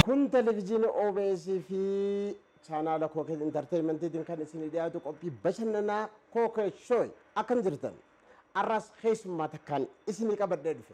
Kun televizyiina OBS fi chaanaala Kookee Intarteeyimentiitiin kan isinii dhiyaatu qophii bashannanaa Kookee Shooy akkam jirtan? Arras keessummaa takkaan isinii qabadhee dhufe.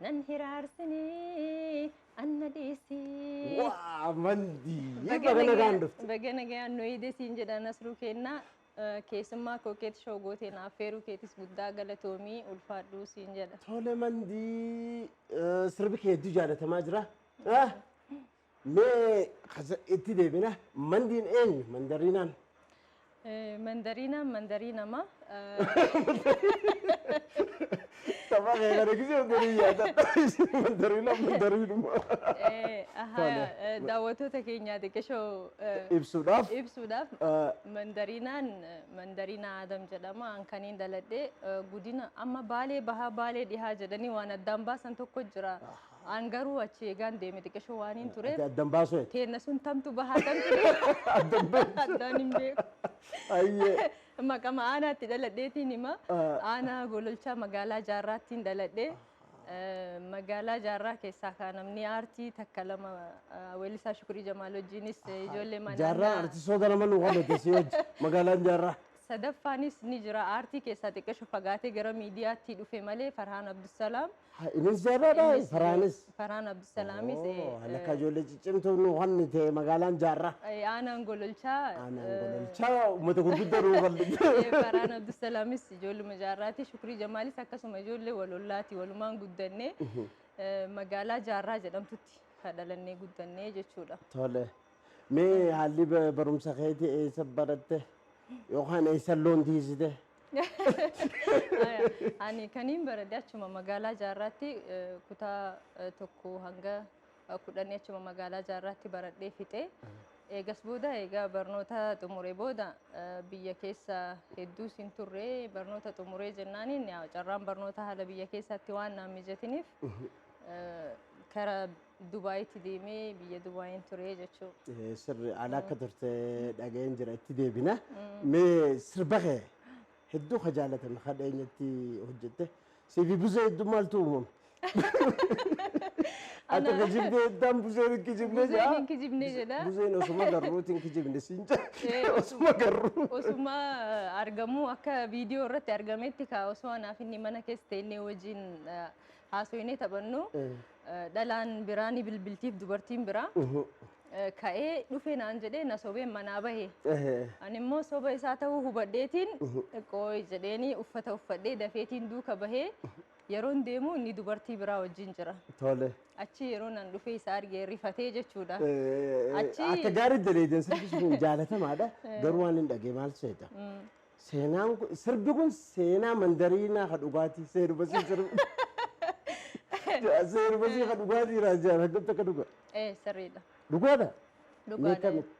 Nan hiraarsini anna dhiisi. Waa mandii baga nagaan dhufte. Baga nagaan nu eegde siin jedha Nasruu keenna. Keessummaa kookeet shoo gootee na affeeruu keetis guddaa galatoomii ulfaadhuu siin jedha. Tole mandii sirbi kee hedduu jaalatamaa jira. Mee kasa itti deebina. Mandiin eenyu? Mandariinaan. Mandariinaan mandarii namaa. Tapha kee kana gisee hogganii yaadadha. Mandariinaan mandariinuma. Daawwattoota keenyaa xiqqishoo Ibsuudhaaf. ibsuudhaaf Ah. mandariinaan mandariinaa Adam jedhama. An kaniin daladhee eh, godina amma baalee bahaa baalee dhihaa jedhanii waan addaan baasan tokko jira. An garuu achi eegaan deeme xiqqishoo waaniin Ati tureef addan baasuu ati. teenna sun tamtu bahaa tamtu deema. Addan beektu. Addaan hin beeku. Ayyee. Maqama aanaatti dhaladheetiin hima. Ah. Aanaa Gololchaa magaalaa Jaarraattiin dhaladhe. Eh, Magaalaa Jaarraa keessaa kaa namni aartii takka lama ah, weellisaa Shukrii Jamaal wajjinis eh, ijoollee manaa Jaarraa artistoota lama nu qabate si wajji magaalaan jaarraa. sadaffaanis ni jira aartii keessaa xiqqisho fagaatee gara miidiyaatti dhufe malee Farhaan Abdusalaam Ha, Innis jaarraadha, Innis Faraanis. ijoollee- Faraan Abdusalaamis eh, Oh, Lakka eh, ijoollee ciccimtuu nu wanni ta'e magaalaan jaarraa. eh, aanaan gololchaa Aanaan eh, gololchaa uummata gurguddaa nu bal'ifte. eh, Faraan Abdusalaamis ijoolluma jaarraati Shukrii Jamaalis akkasuma ijoollee walollaati walumaan guddannee eh, magaalaa jaarraa jedhamtutti kadhalannee guddannee jechuudha. Tole. Mee haalli ba- barumsa keetii eessa baratte? Yookaan eessa loon tiisite? Haya, Ani kaniin barade achuma magaalaa jaarraatti eh, kutaa eh, tokko hanga eh, kudhanii achuma magaalaa jaarraatti baradhee fixee eegas booda eegaa barnoota xumure booda eh, biyya keessa hedduu sin turre barnoota xumuree jennaaniin yaa carraan barnoota haala biyya keessaatti waan naan mijatiniif eh, kara Dubai itti deemee biyya Dubaayin ture jechuu. Eh, Sirri ala akka turte dhaga'een jira itti deebina. Mee sirba kee hedduu ka jaalatame ka dheenyatti hojjette. Siifi buzee hedduu maaltu uumame? Ati Ana- kijibdee heddaan buzeen hin kijibne Buzeen jaa. hin kijibne jedha. Buzeen osuma garruuti hin kijibne siin jaa. Eh, Osuma garruu. Osuma eh, argamuu akka viidiyoo irratti argametti kaa osoo anaaf inni mana keessa teennee wajjin eh, haasoinee taphannu Dhalaan biraa ni bilbiltiif dubartiin biraa. Ka'ee dhufe naan jedhee na sobeen manaa bahe. Ani immoo soba isaa ta'uu hubadheetiin qooyi jedheenii uffata uffadhee dafeetiin duuka bahee yeroon deemu inni dubartii biraa wajjin jira. Tole. Achi yeroo nan dhufee isa arge rifatee jechuudha. Achi- Akka gaarii daleedan sirbi sun jaalatamaadha. Garuu waan hin dhagee maal seeta? Seenaan kun sirbi kun seenaa mandariinaa ka dhugaatii seenuma siin sirbi. Seenuma siin ka dhugaatii irraa jaalladhu akkamitti akka dhugaa. Ee sirriidha. Dhugaadha. Mee Dhugaadha. akkamitti?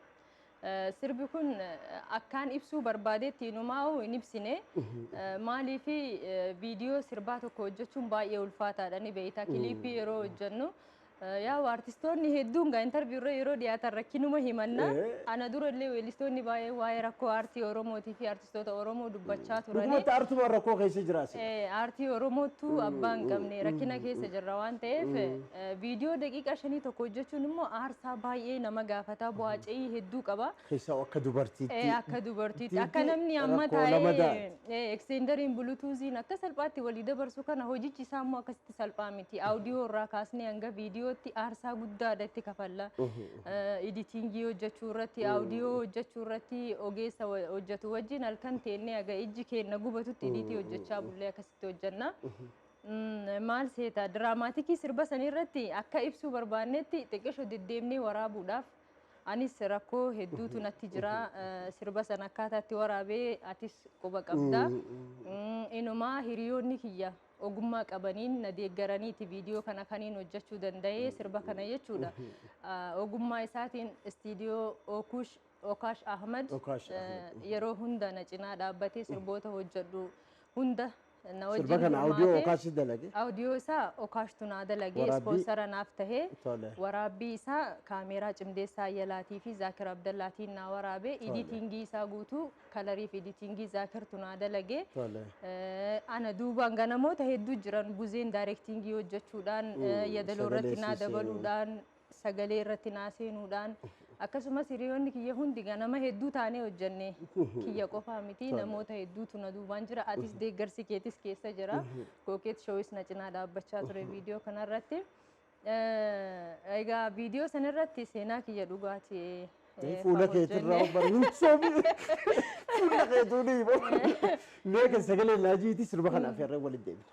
Eh, Sirbi kun eh, akkaan ibsuu barbaadeetti inumaa'u hin ibsine. Eh, Maaliif eh, viidiyoo sirbaa tokko hojjechuun baay'ee ulfaataadha ni beekta. Kiliippii yeroo hojjennu Yaa'u artistoonni hedduun gaa interview irra yeroo dhiyaatan rakkinuma himanna. Ana dura illee weellistoonni baay'ee waa'ee rakkoo aartii Oromootii fi artistoota Oromoo dubbachaa turani. Dhugumatti aartumaan rakkoo keessa jira si. Aartii Oromoottu abbaa hin qabne rakkina keessa jirra waan ta'eef viidiyoo daqiiqaa shanii tokko hojjechuun immoo aarsaa baay'ee nama gaafata bu'aa ce'ii hedduu qaba. Keessaa akka dubartiitti. Ee akka dubartiitti akka namni amma taa'ee eksteendariin bulutuuziin akka salphaatti walii dabarsu kana hojichi isaa immoo akkasitti salphaa miti. Aawudiyoo irraa kaasnee hanga viidiyootti aarsaa guddaadha itti kafalla. Iditiingii hojjechuu irratti aawudiyoo hojjechuu irratti ogeessa hojjetu wajjin halkan teennee aga ijji keenna gubatutti idiitii hojjechaa bullee akkasitti hojjenna. Maal seeta diraamaatikii sirba sanii irratti akka ibsuu barbaannetti xiqqisho deddeemnee waraabuudhaaf Anis rakkoo hedduutu natti jira. Eh, Sirba sana akkaataa itti waraabee atis quba qabda. Mm, Inumaa hiriyoonni kiyya ogummaa qabaniin na deeggaraniiti viidiyoo kana kaniin hojjechuu danda'e sirba kana jechuudha. Ah, Ogummaa isaatiin istiidiyoo Ookush Okaash Ahmad Okaash eh, Ahmad. yeroo hunda na cinaa dhaabbatee sirboota hojjedhu hunda Na Sirba wajjin kana audio hirmaatee Okaash si dalage. audio isaa Okaashtu naa dalagee Waraabbii- ispoonsara naaf tahee Tole. waraabbii isaa kaameeraa Cimdeessaa Ayyalaatii fi Zaakir Abdallaatiin naa waraabee Tole. iditingii isaa guutuu kalarii fi iditingii Zaakirtu naa dalagee Tole. Eh, ana duubaan ganamoota hedduu jiran buzeen daayirektingii hojjechuudhaan eh, yadaloo irratti naa sagalee siisee. dabaluudhaan sagalee irratti naa seenuudhaan akkasumas hiriyoonni kiyya hundi ganama hedduu taanee hojjenne kiyya qofaa miti namoota hedduutu na duubaan jira atis deeggarsi keetis keessa jira kookeet shoowis na cinaa dhaabbachaa ture viidiyoo kanarratti egaa viidiyoo sanarratti seenaa kiyya dhugaati fuula keetirraa bara hin soomi fuula keetuu dhiiba mee kan sagalee laajiiti sirba kanaaf irra waliin deebina.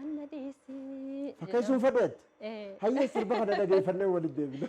Anna dhiisi. Fakkeessuun fadheetti. Eh. Hayyee sirba kana dhageeffannee waliin deebina.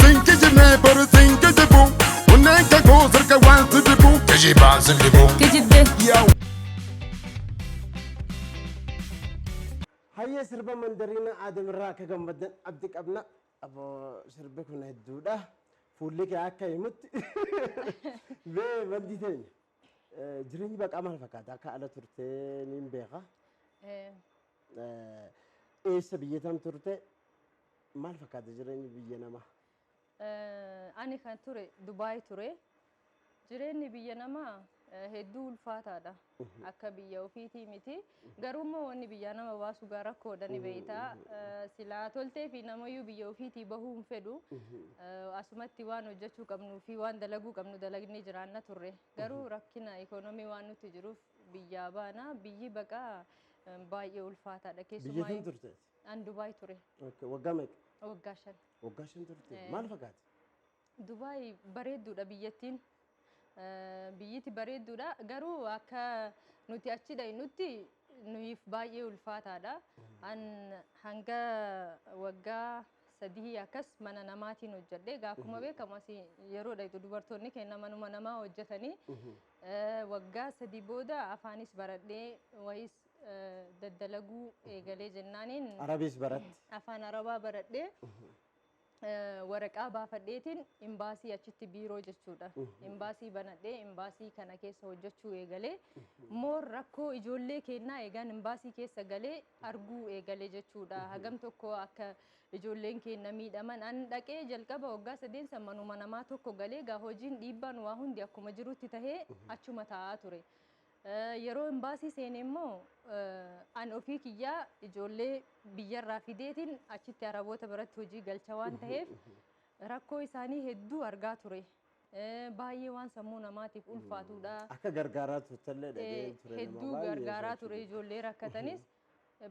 Sin kijibnee bara sin kijibu Onneen kan koo sirka waan si dibu Kijibaan sin dibu Kijibde. Hayyee sirba mandariina aadamirraa akka gammaddan abdi qabna. Aboo sirbi kun hedduudha. Fuulli kee akka himutti. Mee maddii teenya. Eh, Jireenyi baqaa maal fakkaata? Akka ala turtee niin beeka. Eh, Eh, Eessa biyya tam turte? Maal fakkaata jireenyi biyya namaa? Ani kan ture Dubaay ture. Jireenyi biyya namaa hedduu ulfaataadha. Akka biyya ofiitii miti. Garuu immoo wanni biyyaa nama baasu gaa rakkoodha ni beeyta. Silaa toltee fi namayyuu biyya ofiitii bahuu hin fedhu. Asumatti waan hojjechuu qabnuu fi waan dalaguu qabnu dalagnee jiraanna turre. Garuu rakkina ikoonomii waan nutti jiruuf biyyaa baana. Biyyi baqaa baay'ee ulfaataadha. Biyya kam turteet? An Dubaay ture. Okay, Waggaa meeqa? Waggaa shan. Waggaa shan turte. Eh. Maal fakkaate? Dubaay bareedduudha biyyattiin. Eh, Biyyiti bareedduudha. Garuu akka nuti achi dhaqnutti nuyiif baay'ee ulfaataadha. An hanga waggaa sadihii akkas mana namaatiin hojjedhe. Gaafuma beekamu asii yeroo dhaqxu dubartoonni keenya manuma namaa hojjetanii eh, waggaa sadii booda afaanis baradhee wayis daddalaguu eegalee jennaaniin Arabiis baratte. afaan arabaa baradhee waraqaa baafadheetiin imbaasii achitti biiroo jechuudha. Imbaasii banadhee imbaasii kana keessa hojjechuu eegalee moor rakkoo ijoollee kennaa eegaan imbaasii keessa galee arguu eegalee jechuudha. Hagam tokko akka ijoolleen kenna miidhaman an dhaqee jalqaba waggaa sadeen san manuma namaa tokko galee egaa hojiin dhiibbaan waa hundi akkuma jirutti tahee achuma taa'aa ture. Yeroo imbaasii seene immoo an ofii kiyyaa ijoollee biyyarraa fideetiin achitti Araboota biratti hojii galcha waan taheef rakkoo isaanii hedduu argaa ture. Baay'ee waan sammuu namaatiif ulfaatuudha. Akka gargaaraa turtellee dhaga'een ture nama hedduu baay'ee gargaaraa ture ijoollee rakkatanis.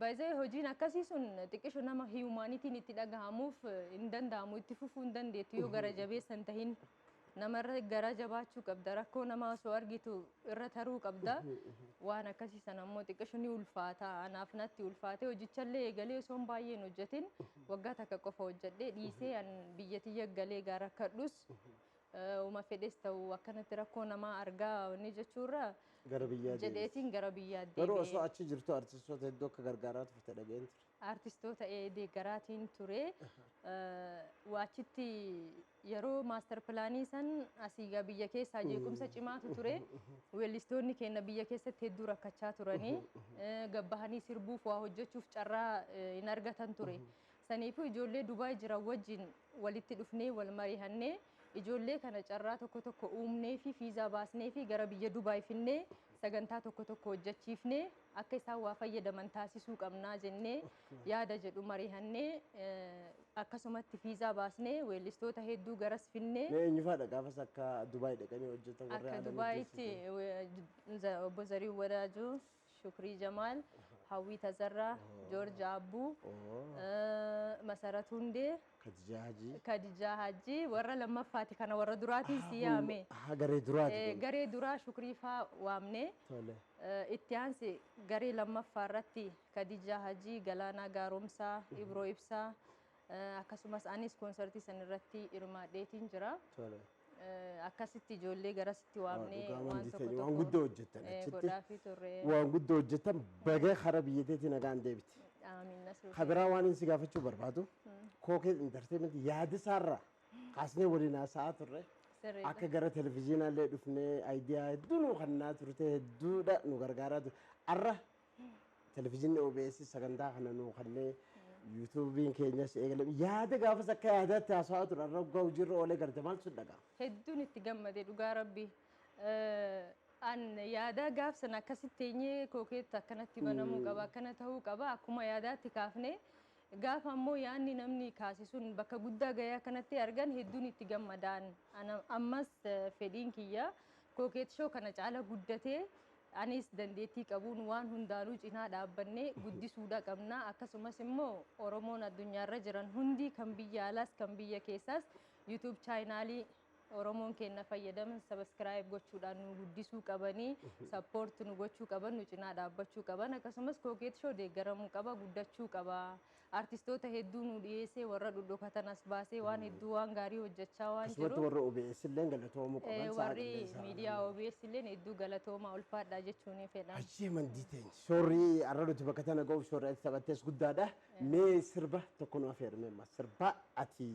By the way hojiin akkasii sun xiqqisho nama hiyumaanitiin itti dhagahamuuf hin danda'amu itti fufuu hin dandeettu yoo gara jabeessa hin tahin namarra garaa jabaachuu qabda rakkoo namaa osoo argitu irra taruu qabda waan akkasii sana ammoo xiqqisho ni ulfaata anaaf natti ulfaate hojichallee eegalee osoo hin baay'een hojjetin waggaa takka qofa hojjedhee dhiisee an biyya tiyya galee gaa rakkadhus Uma fedhes ta'u akkanatti rakkoo namaa argaa wanni jechuurra Gara biyyaa deebisi. jedheetiin gara biyyaa Garuu osoo deebi'e. achi jirtu artistoota hedduu akka gargaaraa turte dhaga'een ture. Artistoota ee deeggaraatiin ture. Eh, Achitti yeroo maastar pilaanii san asii gaa biyya keessaa jeequmsa cimaatu ture. Weellistoonni keenya biyya keessatti hedduu rakkachaa turanii eh, gabbahanii sirbuuf waa hojjechuuf carraa eh, hin argatan ture. Saniifuu ijoollee Dubaay jiran wajjin walitti dhufnee wal marihannee ijoollee kana carraa tokko tokko uumneefii fiizaa baasneefii gara biyya Dubaay finnee sagantaa tokko tokko hojjachiifnee akka isaan waa fayyadaman taasisuu qabnaa jennee yaada jedhu marihannee akkasumatti fiizaa baasnee weellistoota hedduu garas finnee Mee eenyufaadha gaafas akka Dubaay dhaqanii hojjetan warri akka aadaa Dubaayitti mijeessitu? Obbo Zarihuun Wadaajoo Shukrii Jamaal, Hawwii Tazarraa, Joorji Aabbuu, Masarat Hundee, Kadijaa Hajii. Kadijaa Hajii warra lammaffaati kana warra duraatiin si yaame. Haa garee duraati. Eh, kun. Garee duraa Shukrii faa waamne. Tole. Eh, Itti aansi garee lammaffaa irratti Kadijaa Hajii, Galaanaa Gaaromsaa, Ibroo Ibsaa eh, akkasumas anis koonsartii san irratti hirmaadheetiin jira. Tole. Akkasitti ijoollee garasitti waamnee dhugaa waan wanti tokko ta'e waan tokko guddoo hojjettan eh, achitti godhaafii turre. waan guddoo hojjettan baga kara biyya teetii nagaan deebite. Aamiin Nasruu Ka biraa waan inni si gaafachuu barbaadu kookee intarteementii yaada isaarraa kaasnee waliin haasa'aa turre sirriidha. akka gara televizyiinaallee dhufnee ayidiyaa hedduu nu kennaa turte hedduudha nu gargaaraa turte. Arra Televizyiinni OBS sagantaa kana nuu kennee yuutuubiin keenyas eegalee yaada gaafas akka yaadaatti haasawaa ture irra hoggaa hojiirra oolee garte maal sun dhagaa. Hedduun itti gammade dhugaa rabbi. An yaada gaafsan akkasitti teenyee kookeetti akkanatti banamuu qaba akkana ta'uu qaba akkuma yaadaatti kaafnee gaafa ammoo yaadni namni kaase sun bakka guddaa gahee akkanatti argan hedduun itti gammadaan. Ana- Ammas eh, fedhiin kiyya kookeet shoo kana caala guddatee Anis dandeettii qabuun waan hundaanuu cinaa dhaabbannee guddisuudha qabna. Akkasumas immoo Oromoon addunyaarra jiran hundi kan biyya alaas kan biyya keessaas YouTube chaayinaalii Oromoon keenna fayyadaman sabaskiraayib gochuudhaan nu guddisuu qabanii sappoort nu gochuu qaban nu cinaa dhaabbachuu qaban akkasumas Kookeet Shoo deeggaramuu qaba guddachuu qaba Artistoota hedduu nuu dhiyeessee warra dhodhokatan as baasee waan hedduu waan gaarii hojjachaa waan Akkasumatti jiruuf warra OBS illeen galatoomuu eh, qaban sa'a warri qilleensaa kana miidiyaa immoo. OBS illeen hedduu galatoomaa ulfaadhaa jechuunii fedha. Ayyee mandii teenya. Shoorri har'a nuti bakka tana ga'uuf shoorri ati taphattees guddaadha. Mee sirba tokko nu afeermee amma sirba ati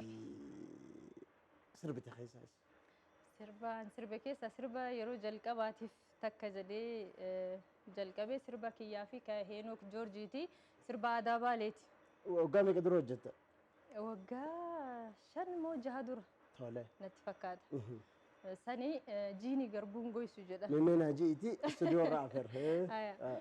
sirbite keessaas. Sirba an sirbe keessaa sirba yeroo jalqabaatiif takka jedhee jalqabe sirba kiyyaa fi ka Heenook Joorjiiti. Sirba aadaa Baaleeti. Waggaa meeqa dura hojjette? Waggaa shan moo jaha dura Tole. natti fakkaata. Sani jiini garbuun goysu jedha. Mee mee naa ji'iiti istuudiyoo irraa afeer. Haya.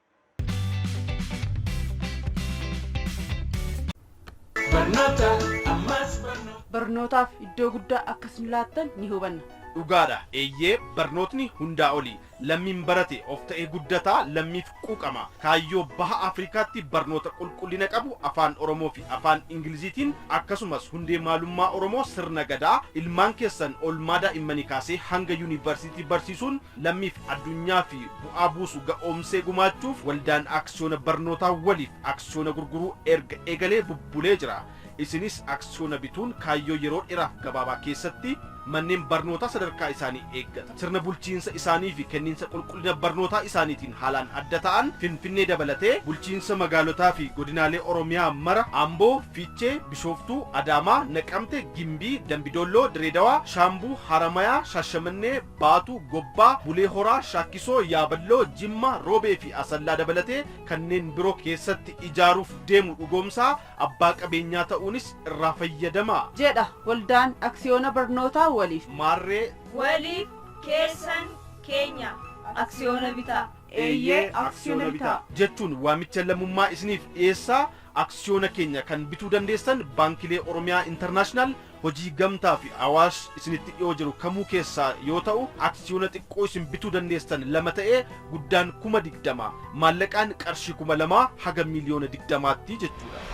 Barnootaaf iddoo guddaa akka isin laattan ni hubanna. Dhugaadha, eeyyee barnootni hundaa oli. Lammiin barate of ta'ee guddata, lammiif quuqama. Kaayyoo Baha Afrikaatti barnoota qulqullina qabu Afaan Oromoo fi Afaan Ingiliziitiin akkasumas hundee maalummaa Oromoo sirna Gadaa ilmaan keessan oolmaa daa'immanii kaasee hanga yuunivarsiitii barsiisuun lammiif addunyaaf bu'aa buusu ga'oomsee gumaachuuf waldaan aksiyoona barnootaa waliif aksiyoona gurguruu erga eegalee bubbulee jira. Isinis aksiyoona bituun kaayyoo yeroo dheraaf gabaabaa keessatti manneen barnootaa sadarkaa isaanii eeggatan, sirna bulchiinsa isaanii fi kenniinsa qulqullina barnootaa isaaniitiin haalaan adda ta'an Finfinnee dabalatee bulchiinsa magaalotaa fi godinaalee Oromiyaa mara, Amboo, Fiichee, Bishooftuu, Adaamaa, Naqamte, Gimbii, Dambi Doolloo, Direedawaa, Shaambuu, Haramayaa, Shaashamannee, Baatuu, Gobbaa, Bulee Horaa, Shaakkisoo, Yaaballoo, Jimma, Roobee fi Asallaa dabalatee kanneen biro keessatti ijaaruuf deemu dhugoomsaa, abbaa qabeenyaa ta'uunis irraa fayyadamaa. jedha Waldaan Aksiyoona Barnootaa Waliif. Maarree. Waliif, Keessan, Keenya. Aksiyoona bitaa. Eeyyee, Aksiyoona bitaa. jechuun waamicha lammummaa isiniif dhiyeessaa, Aksiyoona keenya kan bituu dandeessan Baankilee Oromiyaa International, Hojii gamtaa fi Awaash isinitti dhiyoo jiru kamuu keessaa yoo ta'u aksiyoona xiqqoo isin bituu dandeessan lama ta'ee guddaan 20,000, maallaqaan qarshii 2000 haga miiliyoona 20tti jechuudha.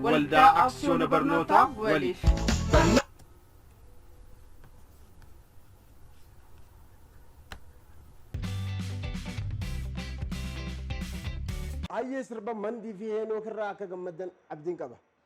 Waldaa Aksiyoona Barnootaa Waliif. Hayyee sirba Mandii fi Heenook irraa akka gammaddan abdiin qaba.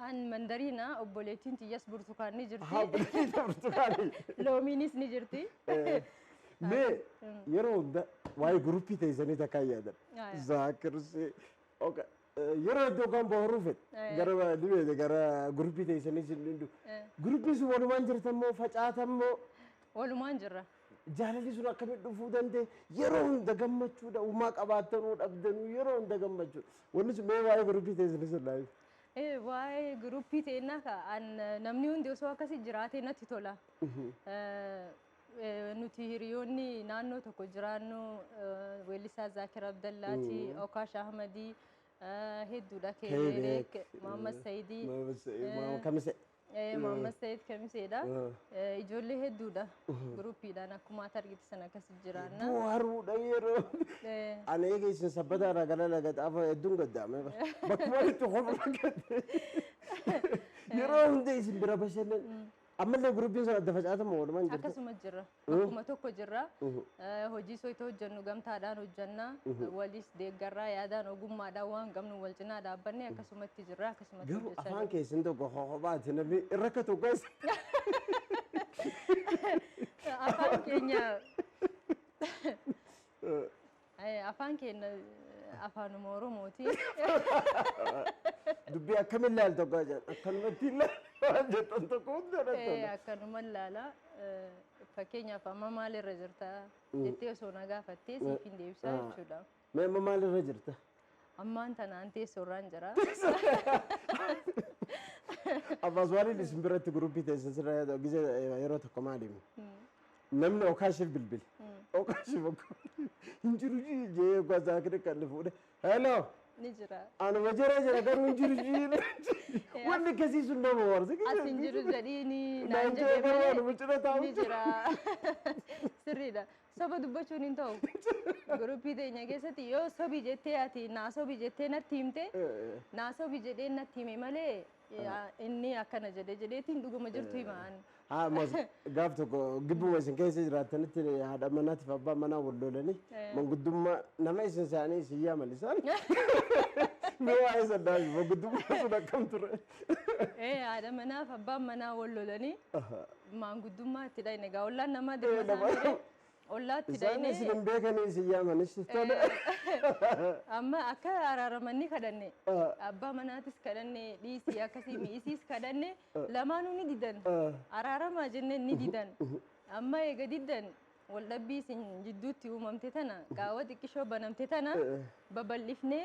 An mandariina, obboleettiin tiyyas burtukaan ni jirti. Haa bultii ta'e burtukaanii. Loomiinis ni jirti. Eh, Mee yeroo hunda waa'ee guruppii teessanii takkaa hin yaadan. Ah, ya. Zaakirsi. oka- eh, Yeroo iddoo kan bohaaruu fedhe. Ah, ya. Gara ni beekte gara guruppii teessanii sin dhindu. Eh. Guruppiin sun walumaan jirtan moo facaatan moo Walumaan jirra. Jaalalli sun akkamitti dhufuu danda'e? Yeroo hunda gammachuudha. Uumaa qabaattanuu dhabdanuu yeroo hunda gammachuudha. Wanni sun mee waa'ee guruppii teessanii sun naa himi. Eh, waa'ee guruppii teennaa ka an namni hundi osoo akkasi jiraatee natti tola. Eh, eh, nuti hiriyoonni naannoo tokko jiraannu eh, weellisaa Zaakir Abdallaati, Okaash Ahmadii eh, hedduudha Keebeek, Keebeek, Maammas Sayidii. Maammas Sayid, eh, Maammas Kamisee. Eh, Muhammad Said Kamiseedha. Eh, Ijoollee hedduudha. Guruppiidhaan akkuma ati argite sana akkasi jiraanna. Buharuudha yeroo. Eh, Anee keessan sabbataa irraa gara laga xaafaa hedduun gaddaame bara. Bakkuma itti hofirra gadde. Yeroo hunda isin bira bashannan. Ammallee guruppiin sun adda facaatama walumaan jirtu. Akkasuma jira. bakkuma tokko jirra. Hojii soyita hojjennu gamtaadhaan hojjenna. Waliis deeggarraa yaadaan ogummaadhaan waan qabnu wal cinaa dhaabbanne akkasumatti jirra akkasumatti Garuu hojjechaa afaan jirra. keessan tokko hobaati namni irra ka tokko isa. Afaan keenya Eh, Afaan keenya eh, afaanuma Oromooti. Dubbii akkamiin ilaaltu akka jedhan akkanumatti ilaalaa jettan tokko hunda Eh, dhattudha. Akkanuma ilaala. Eh, Fakkeenyaaf amma maalirra jirta jettee osoo na gaafattee siif hin deebisaa jechuudha. Mee amma maalirra jirta? Ammaan tanaan teessoorraan jira. Abbaa Suwaaliin isin biratti guruppii teessa sirra gise yeroo tokko maaliimi? Namni okaashiif bilbile. Okaashiif akka hin jiru jii jee gwasaa kiri kan inni fuudhe. Hello! Ni jira. Anuma jira jira garuu hin jiru jii. Wanni akkasii sun nama warsa. As hin jiru jedhiini naan jedhee malee ni jira. Sirriidha. Soba dubbachuun hin ta'u. Guruppii teenya keessatti yoo sobi jettee ati naa sobi jettee natti himte naa sobi jedhee natti hime malee inni akkana jedhe jedheetiin dhuguma jirtu hima ani. Haa mas gaaf tokko gibbuma isin keessa jiraattanitti haadha manaatiif abbaa manaa wal lolanii manguddummaa nama isin isaanii isin yaaman isaan mee waa'ee sannaa manguddummaa sun akkam ture? Ee haadha manaa fi abbaan manaa wal lolanii maanguddummaa itti dhayne egaa ollaan namaa dirma Eh, nama- isaanii ree ollaa itti Isaan isin dhayne hin beekanii isin yaamanis tole. amma akka araaramanii kadhanne abbaa manaatis kadhanne dhiisii akkasii mi'isiis kadhanne lamaanuu ni didan araaramaa jenne ni didan amma eega didan wal dhabbii isin jidduutti uumamte tana qaawwa xiqqishoo banamte tana babal'ifnee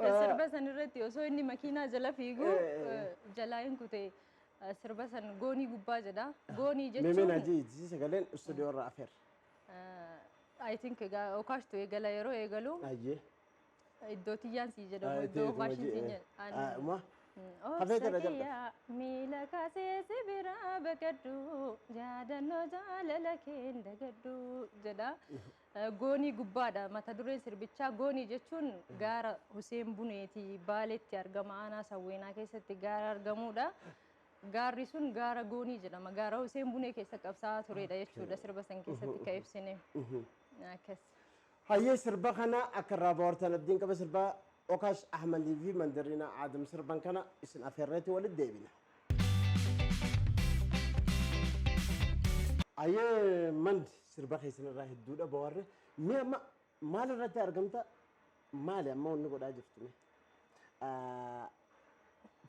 Sirba san irratti osoo inni makiinaa jala fiigu Eh, eh, eh. eh, jalaa hin kute eh, sirba san goonii gubbaa jedha. Goonii Meemeen jechuun hajii jijii sagaleen istuudiyoo irraa afeer. I think egaa okaashtu eegala yeroo eegalu Ayyee. iddoo tiyyaan sii jedhamu iddoo okaashin sii jedhamu. Ma Hafee jala jalqabe. Obsakiyyaa miila kaasee si biraa baqadhu yaadannoo jaalala keen dagadhu jedha. Goonii Gubbaa dha. Mata dureen sirbichaa Goonii jechuun gaara Huseen Buneeti Baaleetti argama aanaa Sawweenaa keessatti gaara argamuudha. Gaarri sun gaara Goonii jedhama. Gaara Huseen Bunee keessa qabsaa'aa tureedha jechuudha sirba san keessatti ka ibsine. Akkas. Hayyee sirba kana akka irraa bohaartan abdiin qaba sirba Okaash Ahmad fi Mandariina Aadam sirban kana isin afeerreeti walitti deebina. Ayyee Mand sirba keessan irraa hedduudha bohaarre. Mee amma maal irratti argamta? Maali amma wanni godhaa jirtu mee? Ah,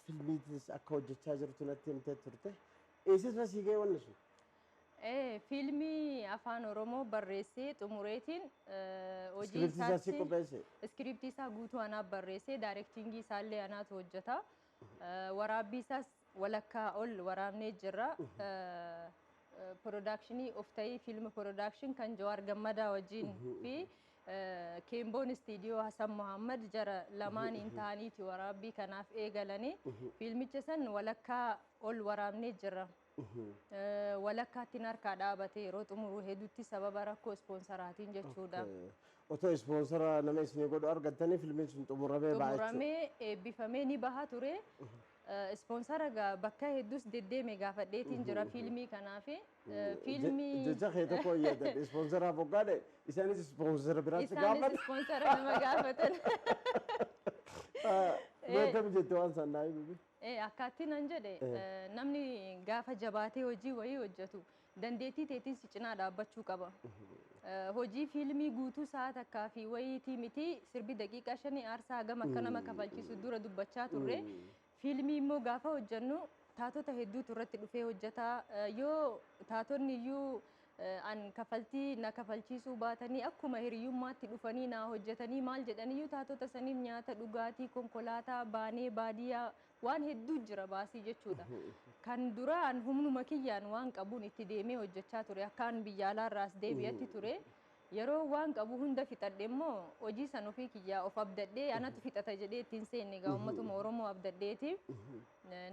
Filmiitis akka hojjechaa jirtu natti himtee turte. Eessas masii ga'e wanni sun? Ee, fiilmii Afaan Oromoo barreessee xumureetiin hojii Iskiriiptii isaas isaatti qopheesse. iskiriiptii isaa guutuu anaaf barreessee daayirektiingii isaallee anaatu hojjeta. Eh, Waraabbii isaas walakkaa ol waraabnee jirra. Eh, eh, Piroodakshinii of ta'ii fiilmi piroodakshin kan Jawaar Gammadaa wajjin fi eh, Keemboon istiidiyoo Hasan Muhammad jara lamaaniin ta'aniiti waraabbii kanaaf eegalanii fiilmicha san walakkaa ol waraabnee jirra. Walakkaattin harkaa dhaabate yeroo xumuru hedutti sababa rakkoo ispoonsaraatiin jechuudha. Otoo ispoonsara nama isinii godhu argattanii filmiin sun xumuramee ba'a jechuudha. Xumuramee eebbifamee ni baha ture. Ispoonsara gaa bakka hedduus deddeeme gaafadheetiin jira fiilmii kanaaf. Fiilmii Jecha kee tokko hin yaadadhe ispoonsara boggaadhe isaanis ispoonsara biraatti isaanis gaafatan. ispoonsara nama gaafatan. Mee akkam jette waan san naa himi. Ee, akkaattiin an jedhe, Ee. namni gaafa jabaatee hojii wayii hojjetu, dandeettii teetiin si cinaa dhaabbachuu qaba. Hojii fiilmii guutuu sa'a takkaa fi wayiitii miti, sirbi daqiiqaa shanii aarsaa hagam akka nama kafalchiisu dura dubbachaa turre. Fiilmii immoo gaafa hojjennu taatota hedduutu irratti dhufee hojjeta. Yoo taatonni iyyuu An kafaltii na kafalchiisuu baatanii akkuma hiriyyummaatti dhufanii naa hojjatanii maal jedhaniyyuu taatota saniif nyaata, dhugaatii, konkolaataa baanee baadiyyaa waan hedduu jira baasii jechuudha. Kan duraa an humnuma kiyyaan waan qabuun itti deemee hojjachaa ture akka an biyya alaarraa as deebi'atti ture. Yeroo waan qabu hunda fixadhe immoo hojii san ofii kiyyaa of abdadhee anatu fixata jedhee itti hin seenne egaa ummatuma Oromoo abdadheeti.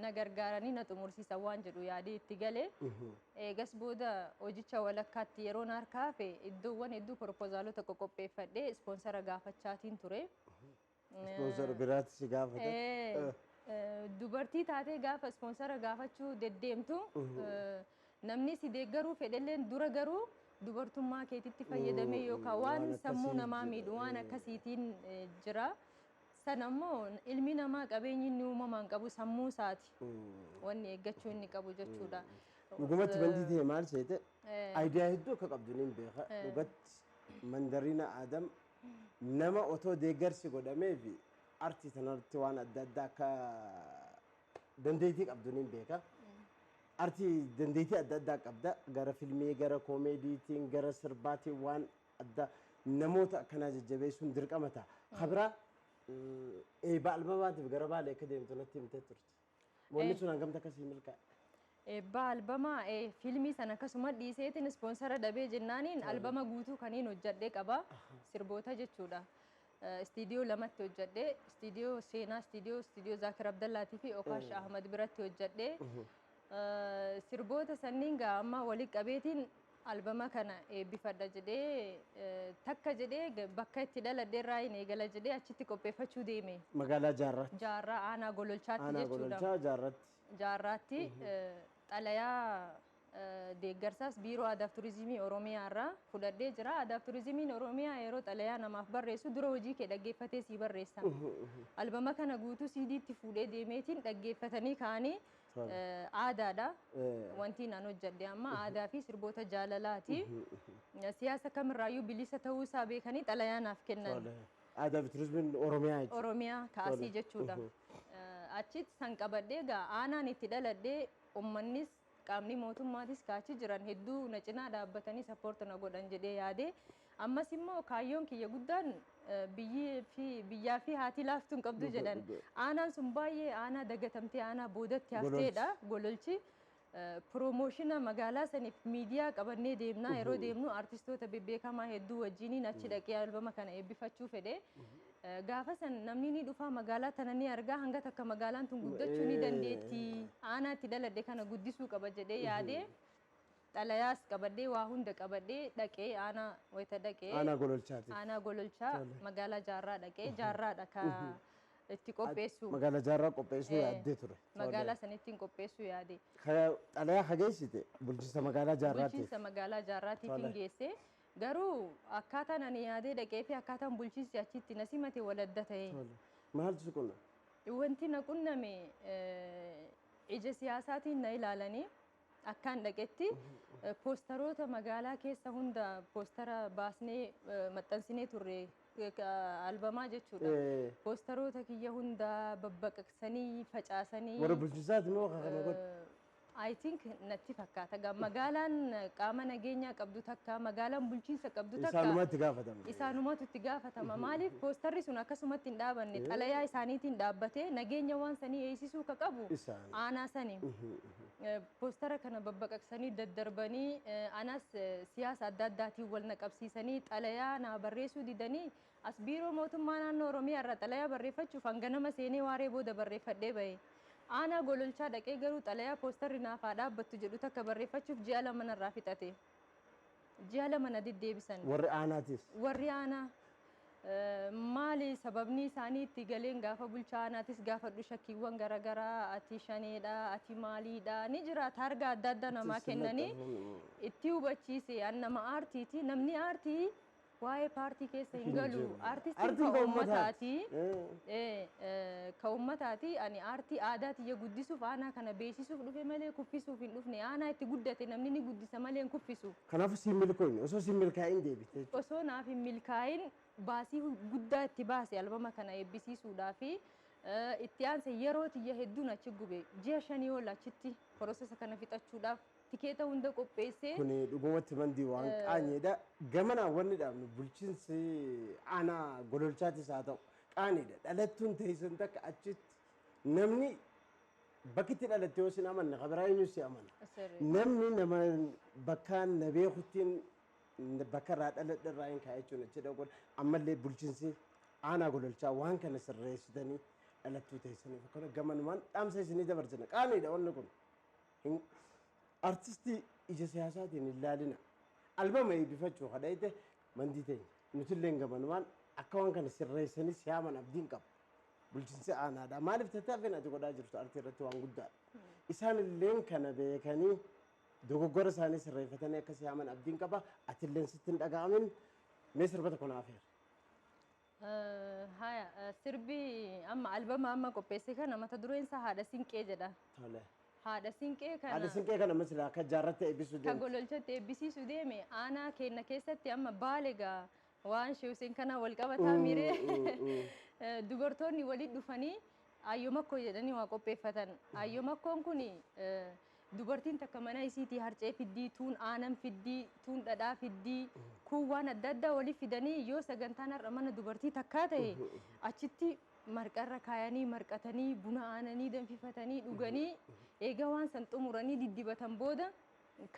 na gargaaranii na xumursiisan waan jedhu yaadee itti gale. Eegas booda hojicha walakkaatti yeroo na harkaa hafe iddoowwan hedduu poropoozaalota qoqopheeffadhee ispoonsara gaafachaatiin ture. Ispoonsara biraatti si gaafata. Eh, eh, dubartii taatee gaafa ispoonsara gaafachuu deddeemtu eh, namni si deeggaruu fedhelleen dura garuu dubartummaa keetitti fayyadamee yookaan waan waan sammuu akkasii namaa jira. miidhu waan akkasiitiin eh, jira. Sana immoo ilmi namaa qabeenyi inni uumamaan qabu sammuu isaati. Wanni eeggachuu inni qabu jechuudha. Dhugumatti bandii ta'e maal seete ayidiyaa hedduu akka qabdu niin beeka. Dhugatti mandariina Aadam nama otoo deeggarsi godhamee fi artii tanarratti waan adda addaa akka dandeettii qabdu niin beeka. Artii dandeettii adda addaa qabda. Gara filmii, gara koomeediitiin, gara sirbaatiin waan addaa namoota akkanaa jajjabeessuun dirqama ta'a. Ka biraa eebba albamaatiif gara Baalee akka deemtu natti himtee turte. Wanni sun hangamta akkasii milkaa'e. Eebba albama fiilmii sana akkasuma dhiiseetiin ispoonsara dhabee jennaaniin albama guutuu kaniin hojjadhee qaba sirboota jechuudha. Istiidiyoo lamatti hojjedhe. Istiidiyoo Seenaa Istiidiyoo, Istiidiyoo Zaakir Abdallaatii fi Okaash Ahmad biratti hojjedhe. Sirboota sanniin gaa amma walitti qabeetiin albama kana eebbifadha jedhee takka jedhee bakka itti dhaladhe irraa hin eegala jedhee achitti qopheeffachuu deeme. Magaalaa Jaarraatti. Jaarraa aanaa gololchaatti jechuudha. Aanaa gololchaa Jaarraatti. Jaarraatti xalayaa deeggarsaas Biiroo Aadaaf Turizimii Oromiyaa irraa fudhadhee jira. Aadaaf Turizimiin Oromiyaa yeroo xalayaa namaaf barreessu dura hojii kee dhaggeeffatee sii barreessa. Albama kana guutuu CDtti fuudhee deemeetiin dhaggeeffatanii ka'anii aadaadha. Wantiin an hojjedhe amma aadaa fi sirboota jaalalaati. Siyaasa kamirraayyuu bilisa ta'uu isaa beekanii xalayaa naaf kennan. Aadaa fi Turizimiin Oromiyaa jechuudha. Oromiyaa kaasii jechuudha. Achitti san qabadhee egaa aanaan itti dhaladhee ummannis Qaamni mootummaatis ka achi jiran hedduu na cinaa dhaabbatanii support na godhan jedhee yaade. Ammas immoo kaayyoon kiyya guddaan biyyii fi biyyaa fi haati laaftu hin qabdu jedhan. Dhuga dhuga. Aanaan sun baay'ee aanaa dagatamtee aanaa boodatti hafteedha. Gololchi. Gololchi. Promotion magaalaa saniif miidiyaa qabannee deemna. Yeroo deemnu artistoota bebbeekamaa hedduu wajjiniin achi dhaqee albama kana eebbifachuu fedhe. Gaafa san namni ni dhufa, magaalaa tana ni arga, hanga takka magaalaan tun guddachuu ni dandeetti, aanaa itti dhaladhe kana guddisuu qaba jedhee yaadee xalayaas qabadhee waa hunda qabadhee dhaqee aanaa wayita dhaqee Aanaa Gololchaati. aanaa gololchaa Tole. magaalaa jaarraa dhaqee jaarraadha ka itti qopheessu Magaalaa jaarraa qopheessuu Eh, yaaddee ture. magaalaa sanittiin qopheessuu yaade Ka- Xalayaa ka geessite bulchiinsa magaalaa jaarraatiif. bulchiinsa magaalaa jaarraatiif Tole. hin geesse Garuu akkaataan ani yaadee dhaqee fi akkaataan bulchiinsi achi itti na simate wal adda ta'e. Tole. Maaltu si qunna? Wanti na qunname eh, ija siyaasaatiin na ilaalanii akkaan dhaqetti eh, poostaroota magaalaa keessa hunda poostara baasnee eh, maxxansinee turre eh, ka- albamaa jechuudha. Eh. Poostaroota kiyya hunda babbaqaqsanii facaasanii Warra bulchiinsaati moo akka kana godhe? eh, I think natti fakkaata gaa magaalaan qaama nageenyaa qabdu takka magaalaan bulchiinsa qabdu takka Isaanuma itti gaafatama. isaanumatu itti gaafatama maaliif poostarri sun akkasumatti hin dhaabanne xalayaa isaaniitiin dhaabbatee nageenya waan sanii eegsisuu ka qabu Isaan. aanaa sani Eh, poostara kana babbaqaqsanii daddarbanii eh, anas eh, siyaasa adda addaatiin wal na qabsiisanii xalayaa naa barreessuu didanii As Biiroo Mootummaa Naannoo Oromiyaa irraa xalayaa barreeffachuuf an ganama seenee waaree booda barreeffadhee bahe. Aanaa Gololchaa dhaqee garuu xalayaa poostarri naaf haa dhaabbattu jedhu takka barreeffachuuf ji'a lama narraa fixate. Ji'a lama na deddeebisan. Warri aanaatis? Warri aanaa maali sababni isaanii itti galeen gaafa bulchaa aanaatis gaafadhu shakkiiwwan gara garaa ati shaneedha, ati maaliidha ni jira taargaa adda addaa namaa kennanii itti hubachiise. An nama aartiiti. Namni aartii Waa'ee paartii keessa hin galu. Aartistiin ka uummataati. Ka uummataati. Ani aartii aadaa tiyya guddisuuf aanaa kana beeksisuuf dhufe malee kuffisuuf hin dhufne. Aanaa itti guddate namni ni guddisa malee hin kuffisu. Kanaafuu siif milkoofne. Osoo siif milkaa'in deebite jechuudha. Osoo naaf hin milkaa'in baasii guddaa itti baase albama kana eebbisiisuudhaafi. Itti aanse yeroo tiyya hedduun achi gube. Ji'a shanii ol achitti process kana fixachuudhaaf. tikeeta hunda qopheessee. Kuni dhugumatti mandii waan qaaniidha. Gamanaan wanni dhaabnu bulchiinsi aanaa Gololchaatis haa ta'u qaaniidha. Dhalattuun teessan takka achitti namni bakki itti dhalatte yoo sin amanne kan biraa eenyu si amana. Sirrii. Namni nama bakkaan na beekuttiin bakka irraa dhaladhe irraa hin kaa'e jechuun achi dhaquun ammallee bulchiinsi aanaa gololchaa waan kana sirreessitanii dhalattuu teessaniif akkana gamanumaan dhaamsa isinii dabarsina. Qaaniidha wanni kun. hin artisti ija siyaasaatiin hin laalina albama eebbifachuu kadhayte mandii teenya nutilleen gamanumaan akka waan kana sirreessanii siyaaman abdiin qaba bulchinsi aanaadha maaliif tattaaffin ati godhaa jirtu artii irratti waan guddaadha isaan illeen kana beekanii dogoggora isaanii sirreeffatanii akka siyaaman abdiin qaba atilleen sitti hin dhaga'amin mee sirbata kun hafeera. Haya sirbi amma albama amma qopheesse kana mata dureen isaa haadha sinqee jedha. Tole. Haadha sinqee kana. Haadha sinqee kana amma silaa akka jaarratti eebbisuu deemte. Ka gololchatti eebbisiisu deeme aanaa keenna keessatti amma baale gaa waan Shee Huseen kanaa wal qabataa miiree dubartoonni walitti dhufanii ayyoo makkoo jedhanii waa qopheeffatan. Ayyoo makkoon kun Dubartiin takka mana isiitii harcee fiddii, tuun aanan fiddii, tuun dhadhaa fiddii, kuun waan adda addaa wali fidanii yoo sagantaan har'a mana dubartii takkaa tahe achitti marqa irra kaayanii marqatanii buna aananii danfifatanii dhuganii eega waan san xumuranii diddibatan booda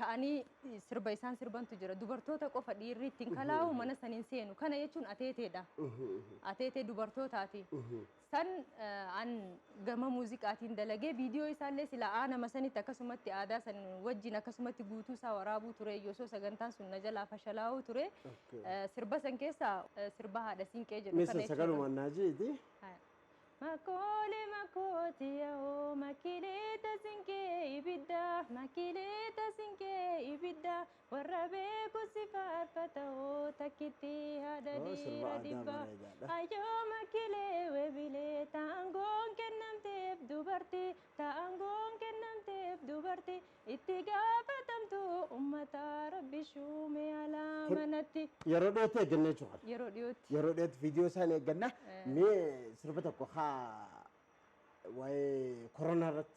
ka'anii sirba isaan sirbantu jira. Dubartoota qofa dhiirri ittiin kalaa'u mana san hin seenu. Kana jechuun ateeteedha. Ateetee dubartootaati. Kan an gama muuziqaatiin dalage viidiyoo isaallee silaa aanama sanitti akkasumatti aadaa san wajjin akkasumatti guutuu isaa waraabuu ture osoo sagantaan sun na jalaa fashalaa'uu ture Okay. Eh, sirba san keessaa eh, sirba haadha siinqee jedhu Misa kana jechuudha. sagalumaan naa jeeti. Makoole makooti yaa'oo makileeta sinkee ibidda makileeta sinkee ibidda Warra beeku si faarfata hoo takkitti haadha Hoo sirba dhiira aadaa dhibba. bareedaadha. Ayyoo makkilee webilee ta angoon kennamteef dubarti ta angoon kennamteef dubarti itti gaafatamtuu ummataa rabbi shuume alaa Kun manatti. yeroo dhiyootti eegganna jechuu kana. Yeroo dhiyootti. Yeroo dhiyootti viidiyoo isaa ni eegganna. Eh. Mee sirba tokko haa waa'ee koronaa irratti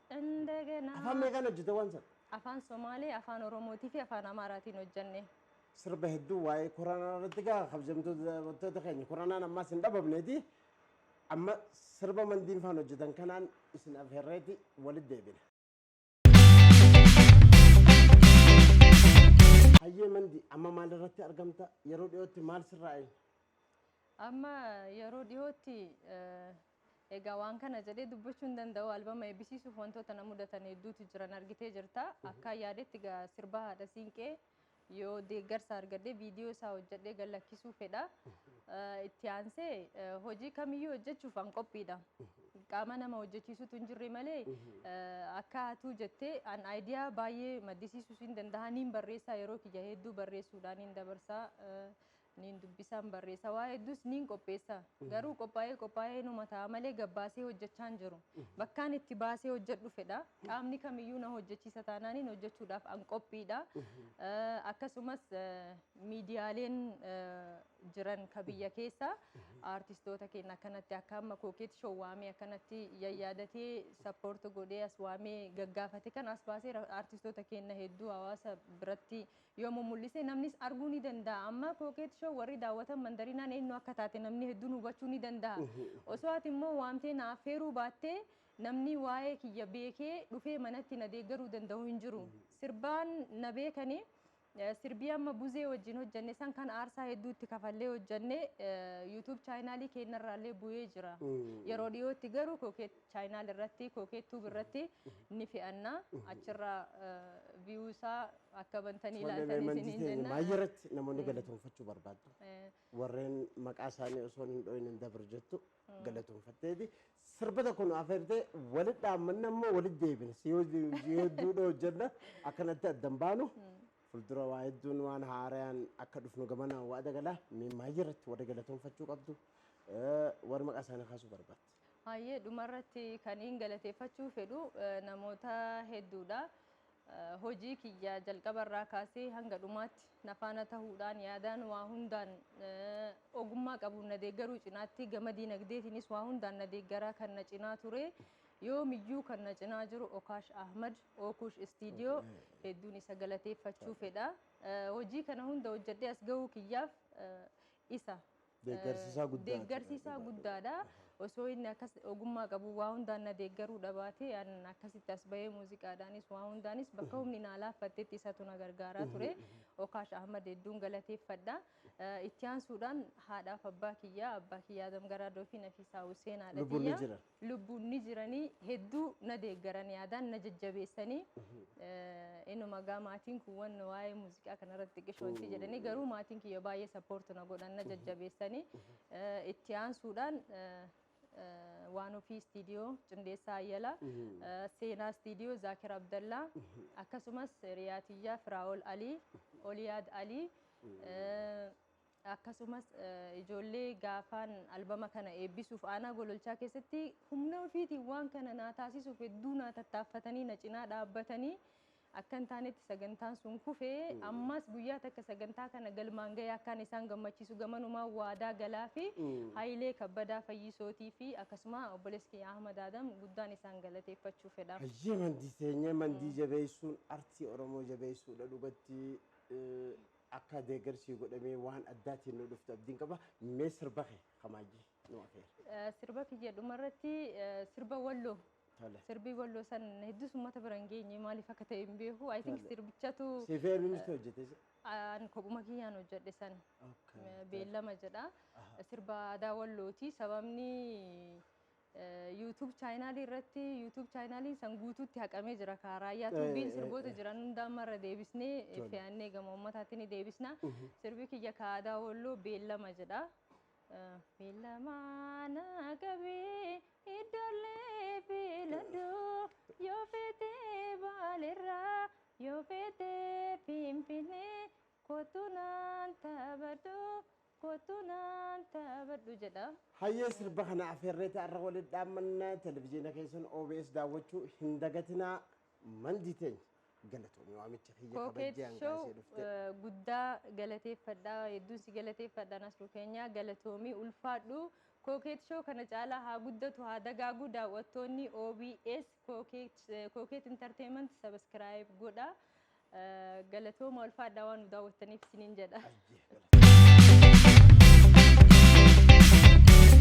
Indagana. Afaan meeqaan hojjete waan sana? Afaan Somaalee, Afaan Oromootii fi Afaan Amaaraatiin hojjenne. Sirba hedduu waa'ee koronaa irratti gaa kabajamtoota daawwattoota keenya koronaan ammaas hin dhabamneeti. Amma sirba mandiin faan hojjetan kanaan isin afeerreeti walitti deebina. Hayyee mandi amma maal irratti argamta? Yeroo dhiyootti maal sirraa eegna? Amma yeroo dhiyootti eh, Egaa waan kana jedhee dubbachuu hin danda'u. Albama eebbisiisuuf wantoota na mudatan hedduutu jiran argitee jirta. Akkaan yaadetti egaa sirba haadha siinqee yoo deeggarsa argadhee viidiyoo isaa hojjedhee gad lakkisuu fedha. Eh, Itti aansee eh, hojii kamiyyuu hojjechuuf an qophiidha. Qaama nama hojjechiisutu hin jirre malee eh, akka atuu jettee an aayidiyaa baay'ee maddisiisuus hin danda'a. Niin barreessaa yeroo kiyya hedduu barreessuudhaan hin dabarsaa. Eh, Niin dubbisaan barreessa waa hedduus niin qopheessa. Garuu qophaa'ee qophaa'ee numa ta'a malee gabbaasee hojjechaa hin jiru. Bakkaan itti baasee hojjedhu fedha. Qaamni kamiyyuu na hojjechiisa taanaaniin hojjechuudhaaf an qophiidha. Akkasumas miidiyaaleen jiran ka biyya keessa aartistoota keenya akkanatti akka amma kookeet shoo waamee akkanatti yayyaadatee sappoorti godhee as waamee gaggaafate kan as baasee aartistoota keenya hedduu hawaasa biratti yoo mummul'ise namnis arguu ni danda'a. Amma Coquette Show warri daawwatan Mandariinaan eenyu akka taate namni hedduun hubachuu ni danda'a. Osoo ati immoo waamtee na affeeruu baattee namni waa'ee kiyya beekee dhufee manatti na deeggaruu danda'u hin jiru. Sirbaan na beekani. Sirbii amma Buzee wajjin hojjanne san kan aarsaa hedduu itti kafallee hojjanne YouTube chaayinaalii keenya irraallee bu'ee jira. Yeroo dhiyootti garuu Coquette. Channel irratti Coquette Tube irratti ni fe'anna. Achirraa view isaa akka bantanii Tole ilaaltanii Raymond isiniin keenya jenna. maayii irratti namoonni galatoonfachuu barbaaddu. Eh, Warreen maqaa isaanii osoo hin dhoohin hin dabru jettu galatoonfatteeti. Sirba tokko nu afeertee walitti dhaammanna immoo walitti deebina. Si yoo si yoo duudha hojjenna akkanatti addan baanu. Fuuldura waa hedduun waan haarayaan akka dhufnu gamanaan waa dagala. Mee maayii irratti warri galatoonfachuu qabdu. eh, Warri maqaa isaanii kaasuu barbaaddu. Hayyee dhumarratti kaniin galateeffachuu fedhu namoota hedduudha. Hojii kiyya jalqabarraa kaasee hanga dhumaatti na faana tahuudhaan yaadaan waa hundaan ogummaa qabuun na deeggaruu cinaatti gama diinagdeetiinis waa hundaan na deeggaraa kan na cinaa ture. Yoomiyyuu kan na cinaa jiru Okaash Ahmad Ookuush Istiidiyoo hedduun isa galateeffachuu fedha. Hojii kana hunda hojjedhee as gahuu kiyyaaf isa Deeggarsi isaa guddaa deeggarsi jira, isaa dhugaadha. guddaadha. Aha. Osoo inni akkas ogummaa qabu waa hundaan na deeggaruu dhabaate an akkasitti as bahee muuziqaadhaanis waa hundaanis bakka humni naa laaffattetti isatu na gargaaraa ture. Okaash Ahmad hedduun galateeffadha. Eh, Itti aansuudhaan haadhaaf abbaa kiyyaa, abbaa kiyyaa Adam Garaadoo fi Nafiisaa Huseenaadha Lubbuun ni tiyya. jira. lubbuun ni jiranii hedduu na deeggaran yaadaan na jajjabeessanii inuma egaa maatiin kun wanna waa'ee muuziqaa kanarratti xiqqisho wanti jedhanii garuu maatiin kiyya baay'ee sappoortu na godhan na jajjabeessanii itti aansuudhaan waan ofii istiidiyoo Cundeessaa Ayyalaa seenaa istiidiyoo Zaakir Abdallaa akkasumas riyaatiyyaa Firaa'ol Alii Oliyaad Alii Akkasumas ijoollee gaafaan albama kana eebbisuuf aanaa Gololchaa keessatti humna ofiitiin waan kana naa taasisuuf hedduu naa tattaaffatanii na cinaa dhaabbatanii akka hin taanetti sagantaan sun kufe ammas guyyaa takka sagantaa kana galmaan ga'ee akkaan isaan gammachiisu gamanumaan waadaa galaa fi Hayilee Kabbadaa Fayyisootii fi akkasuma obboleessi kiyya Ahmad Adam guddaan isaan galateeffachuu fedha. Hayyee mandii teenya mandii jabeessuun artii Oromoo jabeessuudha dhugatti. Akkaa deegar sii godhamee waan addaatiin nu dhuftu abdiin qaba mee sirba kee ka maajji nu afeeri. Sirba kiyya dhumarratti sirba walloo Tole. sirbi walloo san hedduus ummata bira hin geenye maaliif akka ta'e hin beeku I think Tole. sirbichatu Siif eenyutu hojjete isa? an kophuma kiyyaan hojjedhe san Okay. beellama jedha Aha. sirba aadaa wallooti sababni YouTube channel irratti YouTube channel san guutuutti haqamee jira kaa raayyaa Eh, tuubiin eh, sirboota eh. jiran hunda amma irra deebisnee Tole. fe'annee gama uummataatti ni deebisna sirbi kiyya ka aadaa walloo beellama jedha Eh, beellama na qabee iddollee beeladoo yoo feetee baalirraa yoo feetee finfinnee kottu naan taphadhu Koottuu naan taphadhu jedha. Hayyee sirba kana afeerreeti har'a walitti dhaammanna. Televijiina keessan OBS daawwachuu hin dagatinaa. Mandii teenya galatoomi waamicha kiyya Kookeet kabajjee hangaa Show ishee dhufte. eh, guddaa galateeffadha. Hedduun si galateeffadha Nasruu keenya galatoomi ulfaadhu. Kookeet Show kana caalaa haa guddatu haa dagaagu daawwattoonni OBS. Coket entertainment subscribe godha galatooma ulfaadhaa waan nu daawwattaniif isiniin jedha.